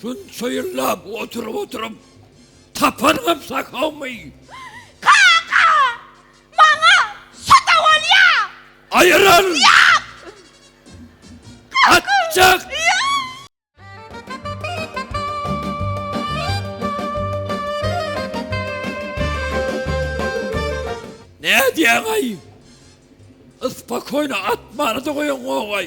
Şunça ýyllap oturyp-oturyp tapanyňam sakawmy? Kaka! Maňa şo-da bolýa! Aýryl! Ýok! Atjak! Ýok! Nädýäň-aý? Ispokoýno atmany-da goýaňogaý.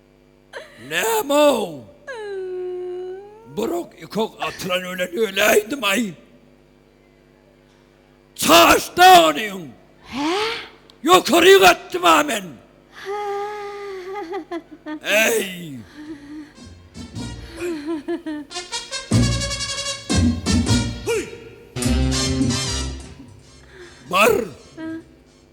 Näme-ow? Bir ok, iki ok atylan welin öläýdim-aý. Çaşda ony iň. Hä? Ýokaryk atdym-a men. Äý! Hyý! Bar!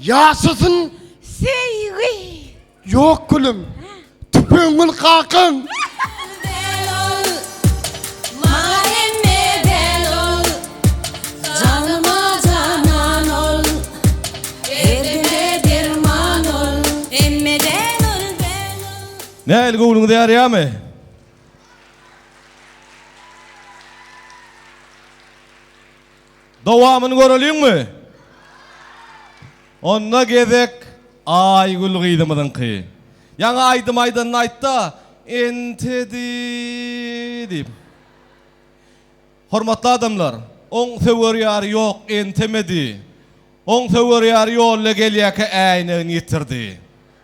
Ýaşasyn söýgi. Ýok gülüm. Tüpeňül kakan. Nähili göwnüňize ýarýamy? Dowamyny göreliňmi? Onda gezek Aýgül gyzymyzyňky. Ýaňy aýdym aýdanyny aýtda, entedi diýip. Hormatly adamlar, oň söwer ýary ýok, entemedi. Oň söwer ýary ýolda gelýärkä äýnegini ýitirdi.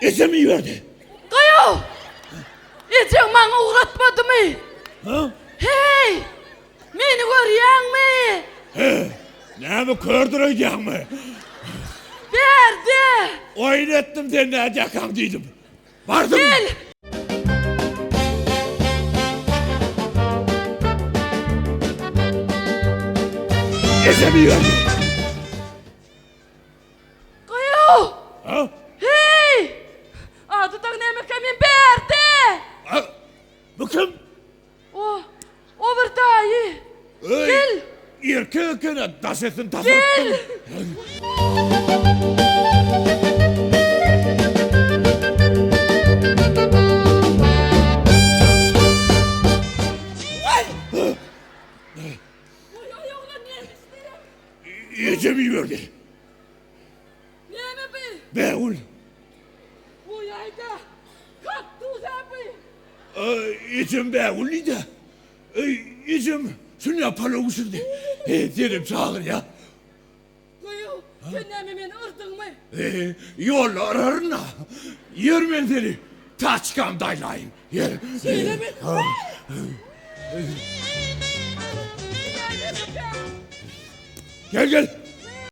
Ejem iberdi. Gaýa! Ejeň maňa ugratmadymy? Hä? Heý! Meni görýäňmi? He, näme kördür öýdýäňmi? Berdi! Oýun etdim sen nädýäkaň diýdim. Bardym. Gel! Ejem iberdi. Gaýaw! Ha? Heý! Ady dagy nämekä men Berdi! A, bu kim? O, o bir daýy. Gel! Öý, erkek eken-ä, daş etsin, tapyrypdym. Ejem iberdi. Näme bi? Bägül. Bu ýaýda kaktusa bi? Ejem bägül diýdi. Ejem şunda palaw bişirdi. Senem çagyrýa. Goýu, sen näme meni yrdyňmy? Ýolda yraryn-a. Ýör men seni taçkamda aýlaýyn. Ýör. Şeýlemi? Gel, gel.